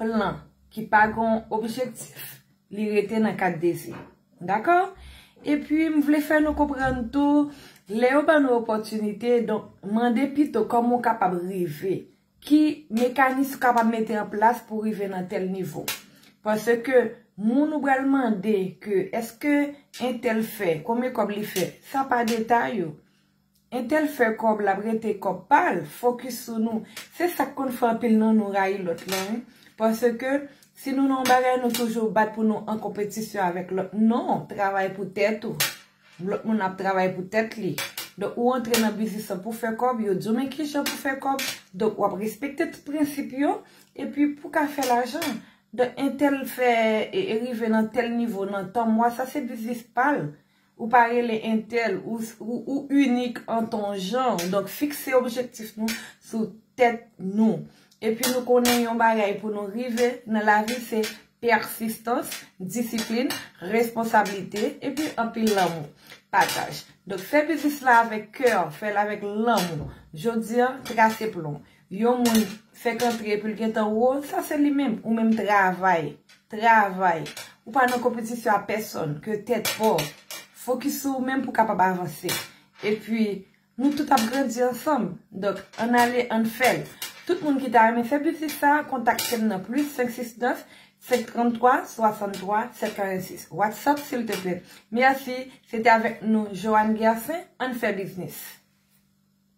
plan ki pa gon objektif li rete nan kad dezi. Dakò? Epi m vle fè nou konprann tou lè yo ban nou opòtinite donk mande pito kòman ou kapab rive, ki mekanis ou kapab mete an plas pou rive nan tèl nivo. Paske moun ou pral mande ke eske entèl fè, konbyen kòb li fè, sa pa detay yo. Intel fè kòb lap rete kòb pal focus sou nou se sak konn fè anpil nan nou rayi lòt lan wi paske si nou nan yon bagay nou toujou bat pou nou an konpetisyon avèk lòt non travay pou tèt ou lòt moun ap travay pou tèt li donk ou antre nan biznis lan pou fè kòb yo diw men kijan pou fè kòb donk wap respekte tout prensip yo epi pou ka fè lajan donk intel fè rive nan tèl nivo nan tan mwa sa se biznis pal. Ou pa rele entèl, ou inik an ton jan. Donk fikse objektif nou sou tèt nou. Epi nou konnen yon bagay pou nou rive nan lavi se pèsistans, disiplin, responsablite, epi anpil lanmou. Pataj. Donk fè biznis la avèk kè, fè l avèk lanmou. Jodi an, trase plon. Yon moun fèk antre epi l gentan wo, sa se li menm. Ou menm travay. Travay. Ou pa nan konpetisyon a pèsòn ke tèt pa w. Fokis sou ou menm pou w kapab avanse. Epi, nou tout ap grandi ansanm. Donk, ann ale, ann fè l. Tout moun ki ta renmen fè biznis sa a, kontakte m nan plis 569 533 63 706. Whatsapp silteplè. Mèsi. Se te avèk nou Johanne Guercin. Ann fè biznis.